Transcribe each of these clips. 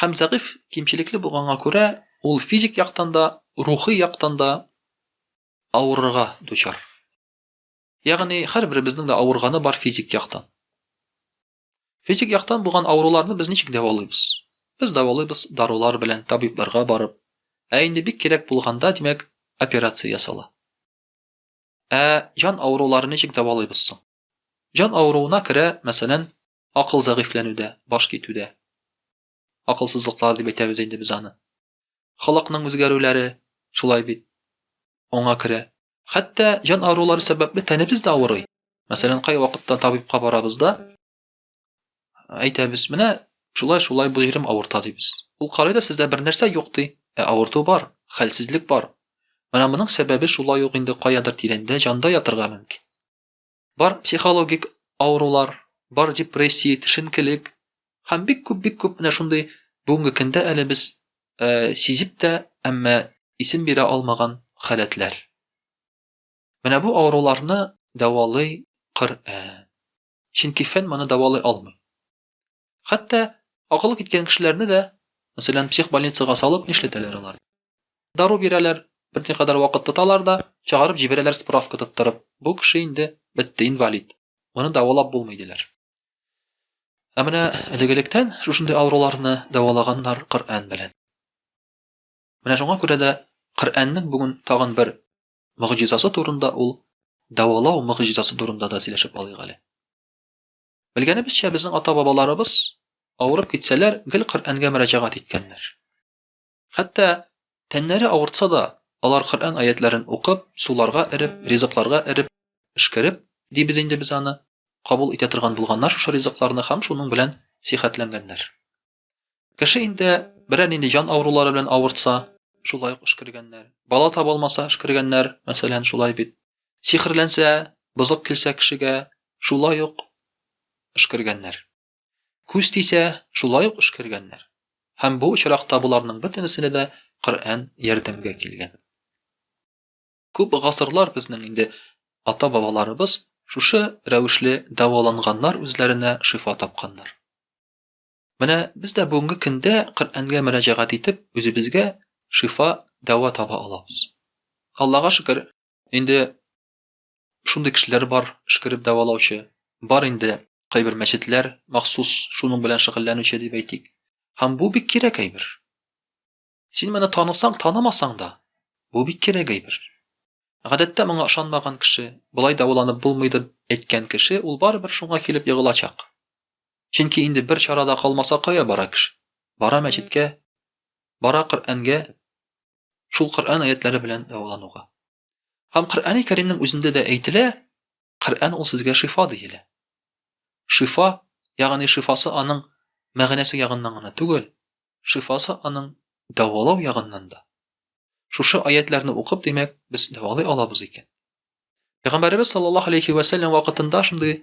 Һәм зәгыйфь, кимчелекле булганга күрә, ул физик яктан да, рухи яктан да авырырга дучар. Ягъни, һәрберебезнең дә авырганы бар физик яктан. Физик яктан булган авыруларны без ничек дәвалыйбыз? Без дәвалыйбыз дарулар белән, табибларга барып. Ә инде бик кирәк булганда, димәк, операция ясала. Ә җан авыруларын ничек дәвалыйбыз соң? Җан авыруына керә, мәсәлән, Акыл зәгыйфьләнүдә, баш китүдә. Акылсызлыклар дип әйтәбез инде без аны. Халыкның үзгәрүләре шулай бит. Аңа керә. Хәтта җан авырулары сәбәпле тәнебез дә авырый. Мәсәлән, кайвакытта табибка барабыз да, әйтәбез, менә шулай шулай бу җирем авырта дибез. Ул карый да сездә бернәрсә юк ди. Ә авырту бар, хәлсезлек бар. Менә моның сәбәбе шулай ук инде каядыр тирәндә җанда ятырга мөмкин. Бар психологик авырулар, бар депрессия, төшенкелек һәм бик күп бик күп менә шундый бүгенге көндә әле без э, сизеп тә, әмма исем бирә алмаган халәтләр. Менә бу авыруларны дәвалый Коръән. Чөнки фән моны дәвалый алмый. Хәтта акылы киткән кешеләрне дә, мәсәлән, психбольницага салып нишләтәләр алар? Дару бирәләр, берникадәр вакыт тоталар да, чыгарып җибәрәләр справка тоттырып, бу кеше инде бетте, инвалид, моны дәвалап булмый диләр. Ә менә элек-электән шушындый авыруларны дәвалаганнар Коръән белән. Менә шуңа күрә дә Коръәннең бүген тагын бер мөгъҗизасы турында ул дәвалау мөгъҗизасы турында да сөйләшеп алыйк әле. Белгәнебезчә, безнең ата-бабаларыбыз авырып китсәләр, гел Коръәнгә мөрәҗәгать иткәннәр. Хәтта тәннәре авыртса да, алар Коръән аятьләрен укып, суларга эреп, ризыкларга эреп, пешкереп, дибез инде без аны, кабул итә торган булганнар шушы ризыкларны һәм шуның белән сихәтләнгәннәр. Кеше инде берәр нинди җан авырулары белән авыртса, шулай ук эшкергәннәр. Бала таба алмаса, эшкергәннәр, мәсәлән, шулай бит. Сихерләнсә, бозык килсә кешегә, шулай ук эшкергәннәр. Күз тисә, шулай ук эшкергәннәр. Һәм бу очракта боларның бөтенесенә дә Коръән ярдәмгә килгән. Күп гасырлар безнең инде ата-бабаларыбыз шушы рәвешле дәваланганнар, үзләренә шифа тапканнар. Менә без дә бүгенге көндә Коръәнгә мөрәҗәгать итеп, үзебезгә шифа, дәва таба алабыз. Аллага шөкер, инде шундый кешеләр бар, шкереп дәвалаучы. Бар инде кайбер мәчетләр махсус шуның белән шөгыльләнүче дип әйтик. Һәм бу бик кирәк әйбер. Син моны танысаң, танымасаң да, бу бик кирәк әйбер. Гадәттә моңа ышанмаган кеше, болай дәваланып булмый дип әйткән кеше ул барыбер шуңа килеп егылачак. Чөнки инде бер чара да калмаса кая бара кеше? Бара мәчеткә, бара Коръәнгә, шул Коръән аятләре белән дәвалануга. Һәм Коръәни Кәримнең үзендә дә әйтелә, Коръән ул сезгә шифа диелә. Шифа, ягъни шифасы аның мәгънәсе ягыннан гына түгел, шифасы аның дәвалау ягыннан да. Шушы аятләрне укып, димәк, без дәвалый алабыз икән. Пәйгамбәребез саллаллаһу алейхи ва сәллям вакытында шундый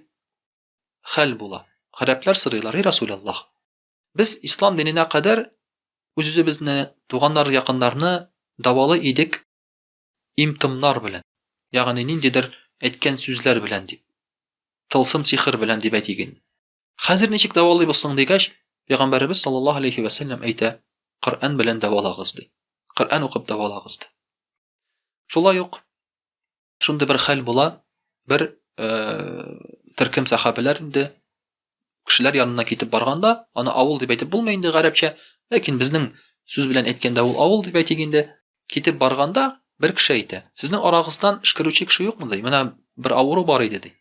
хәл була. Гарәпләр сорыйлар, "И Расулаллах, без ислам диненә кадәр үз-үзебезне, туганнар, якыннарны дәвалый идек, Им-томнар белән, ягъни ниндидер әйткән сүзләр белән дип. Тылсым-сихер белән дип әйтик инде. Хәзер ничек дәвалыйбыз соң дигәч, Пәйгамбәребез саллаллаһу алейһи вә сәлләм әйтә, Коръән белән дәвалагыз ди. Коръән укып дәвалагыз ди. Шулай ук шундый бер хәл була, бер төркем сәхабәләр инде кешеләр янына китеп барганда, аны авыл дип әйтеп булмый инде гарәпчә, ләкин безнең сүз белән әйткәндә ул авыл дип әйтик инде, китеп барганда, бер кеше әйтә, сезнең арагыздан эшкәрүче кеше юкмы, ди, менә бер авыру бар иде, ди.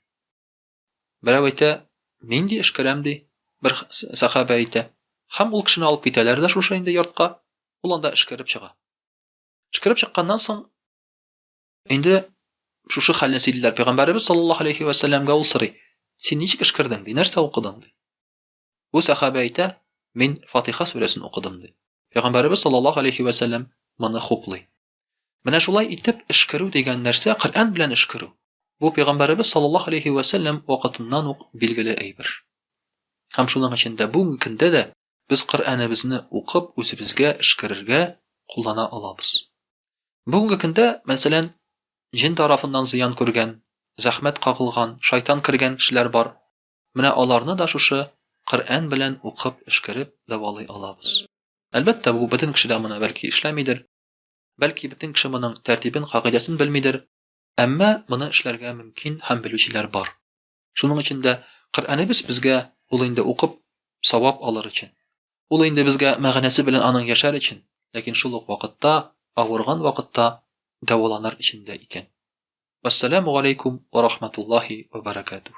Берәү әйтә, мин ди эшкәрәм, ди, бер сәхабә әйтә. Һәм ул кешене алып китәләр дә шушы инде йортка, ул анда эшкәреп чыга. Эшкәреп чыкканнан соң, Инде шушы хәлне сөйлиләр пәйгамбәребез саллаллаһу алейхи ва сәлләмгә ул сорый. Син ничек эшкердең? ди, нәрсә укыдың? ди. Бу сәхабә әйтә, мин Фатиха сүрәсен укыдым ди. Пәйгамбәребез саллаллаһу алейхи ва сәлләм моны хуплый. Менә шулай итеп эшкерү дигән нәрсә Коръән белән эшкерү. Бу пәйгамбәребез саллаллаһу алейхи ва сәлләм вакытыннан ук билгеле әйбер. Һәм шуның өчен дә бүгенге көндә дә без Коръәнебезне укып үзебезгә эшкерергә куллана алабыз. Бүгенге көндә, мәсәлән, җен тарафыннан зыян күргән, зәхмәт кагылган, шайтан кергән кешеләр бар, менә аларны да шушы Коръән белән укып эшкереп дәвалый алабыз. Әлбәттә, бу бөтен кеше дә моны бәлки эшләмидер, бәлки бөтен кеше моның тәртибен, кагыйдәсен белмидер, әмма моны эшләргә мөмкин һәм белүчеләр бар. Шуның өчен дә Коръәнебез безгә ул инде укып савап алыр өчен. Ул инде безгә мәгънәсе белән аның яшәр өчен, ләкин шул ук вакытта авырган вакытта дәваланыр өчен дә икән. Вассаламу алейкум ва рахматуллахи ва баракатух.